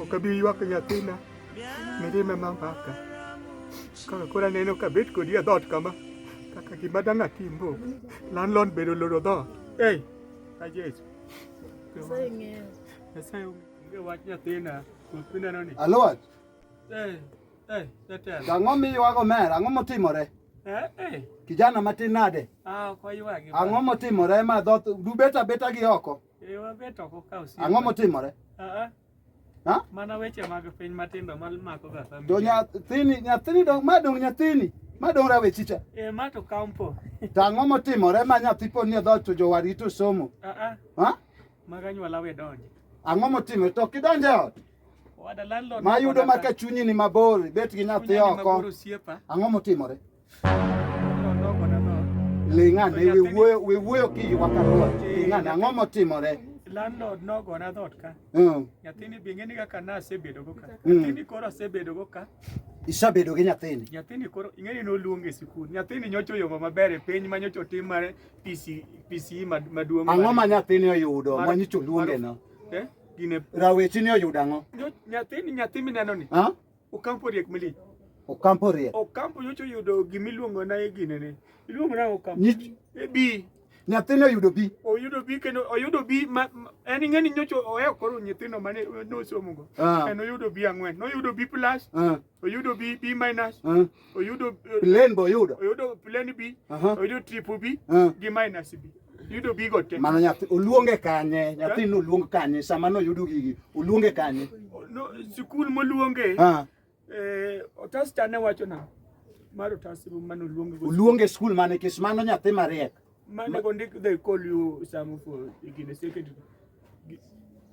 Okabi ywak nyathina mirima mamaka kaka koro aneno kabet kodi e dhoot kama kaka gima dang' atim bo landlord be oloro dhoot ei a Jesu Nyasaye ong'eyo. Nyasaye ong'eyo wach nyathina ruoth mineno ni Alot, ei ei jatelo ang'o miywago omera? Ang'o motimore? eh eh Kijana matin nade? ah ok waywagi Ang'o motimore ma dhoth dubet abeta gi oko? Eh, wabet oko ka osiepe. Ang'o motimore? Ah, ah. Ha? Mana weche mag piny matindo ma mako ga family. To nyathini, nyathini dong, ma dong nyathini, ma dong rawechicha. Eh, ma to kampo. To ang'o motimore ma nyathi pod ni e dhoot to jowadgi to somo? Ah, ah. Ha? Mag anyuola we donje. Ang'o motimore? To ok idonj e ot? Wada landlord. Ma yudo ma ka chunyi ni mabor, bet gi nyathi Kunya ni oko. mabor osiepa. Ang'o motimore? Ling'ane, we wuoyo we wuoyo ki yu kaka ruwa. Ling'ane, ang'o motimore? landlord nogona dhot ka mm. nyathini be ing'eni kaka nasebedogo ka mm. nyathini koro asebedogo ka isebedo gi nyathini nyathini koro ing'eni noluong e sikul nyathini nyocha oyongo maber e piny ma nyocha otim mar PCE e maduong' ang'o ma nyathini oyudo ma nyocha oluongeno eh? rawechini oyudo ang'o nyathini nyathi minenoni Okampo riek mili. Okampo riek. Okampo nyocho yudo gima iluongo na e gine ne. Iluongo na Okampo. Nyi. E bi. Nyathino oyudo bi. Oyudo bi kendo oyudo bi ma en ing'eni nyocho ohewo koro nyithindo mane nosomogo. Ah. En oyudo bi ang'wen. Noyudo bi plus. Ah. Oyudo bi bi minus. Ah. oyudo eh, plane bo yudo oyudo plane B oyudo triple B gi minus B yudo bigo te mano nyathi oluonge kanye nyathi no oluong kanye sama no yudo gigi oluonge kanye no sikul moluonge eh otas chane wacho na mar otas mano oluonge oluonge sikul mane kis mano nyathi mariek mane go ndik they call you some for igine secondary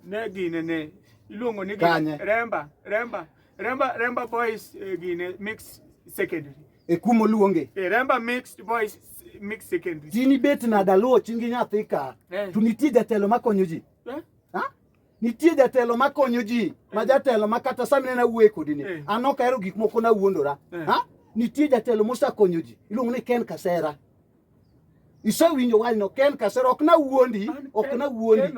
ne gine ne iluongo ni remba remba Remba Remba boys eh, gine mix secondary. E kumo luonge. Eh, Remba mixed boys mix secondary. Tini bet na daluo chingi nyathi ka. Eh. To nitie jatelo makonyo ji. Eh? Ha? Nitie jatelo makonyo ji. Eh. Ma jatelo ma kata sami nena wuoye kodi ni. Eh. An ok ahero gik moko na wuondora. Eh. Ha? Nitie jatelo mosakonyo ji. Iluongo ni Ken Kasera. Isewinjo wanyno Ken Kasera ok nawuondi, ok nawuondi,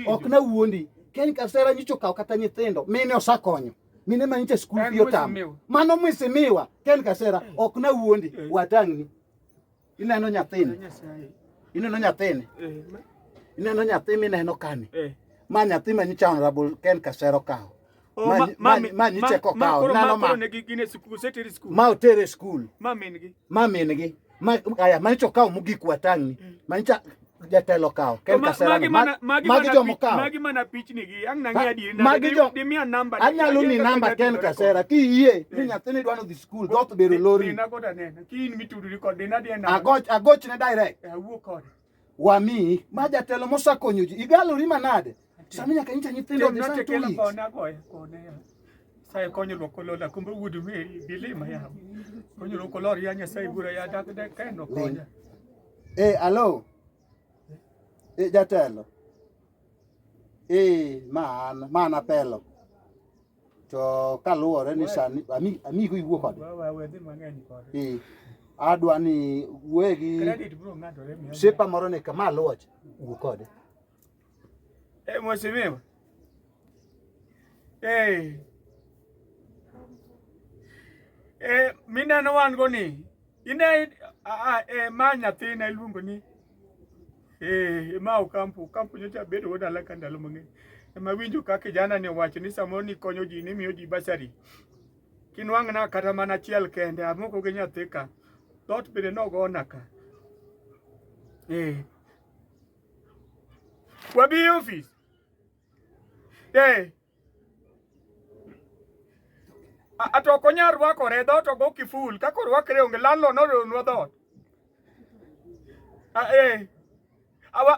ok nawuondi. Ken Kasera nyicho kawo kata nyithindo mine osakonyo mine ma nyiche skul fi otamo mano mwisimiwa Ken Kasera eh. ok nawuondi eh. watang'ni ineno nyathini ineno nyathini eh, ineno nyathi mineno kani ma nyathi ma nyicha honorable Ken Kasera okawo ma nyiche kokawo nano ma ma otere skul ma min-gi ma min-gi aya ma nyiche okawo mogik watang'ni mm. ma nyiche jatelo kawo ken kaserani magi jomo kawo magi mana pichni gi ang na ngadi na magi jo di mia namba anyalo ni namba ken kasera ki yie ni hmm. nyathini dwano dhi skul goth bero lori na goda nena ki in mituduri kod dina dina agoch agoch ne direct awuo kode wamiyi ma jatelo mosakonyo ji igalori manade sami nyaka nyicha nyithindo dhi sa tulis sai konyo lo kolo la kumbu wudu me bile ma ya konyo lo kolo ya nya sai bura ya dak de kai no konya eh alo eh jatelo eh man mana pelo to kaluwore ni sani ami- amigo iwuo kode wawedhi mang'eny kode Eh, adwa ni wuoye gi credit bro ng'ato remi msipa moro ni kama aluocha wuo kode eh mheshimiwa eh eh mineno wan go ni Ine a e ma nyathina iluongo ni eh ma Okampo, Okampo nyocha bedo wuod alaka ndalo mang'eny. Ema winjo ka kijana ni owacho ni samoro ni konyo ji ni miyo ji basari. Kinwang'na kata mana achiel kende amoko gi nyathi ka. Dhoot bende nogona ka. Eh. Wabi ofis. Eh. ato ok onyal rwakore dhoot ogo kiful kaka orwakre onge landlord noronwa dhoot eh.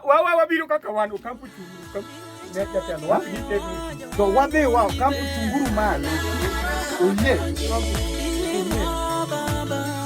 wawa wabiro kaka wan okampu chunguru jatelo wadhi gitegni to wadhi wa okampu chunguru malo oyie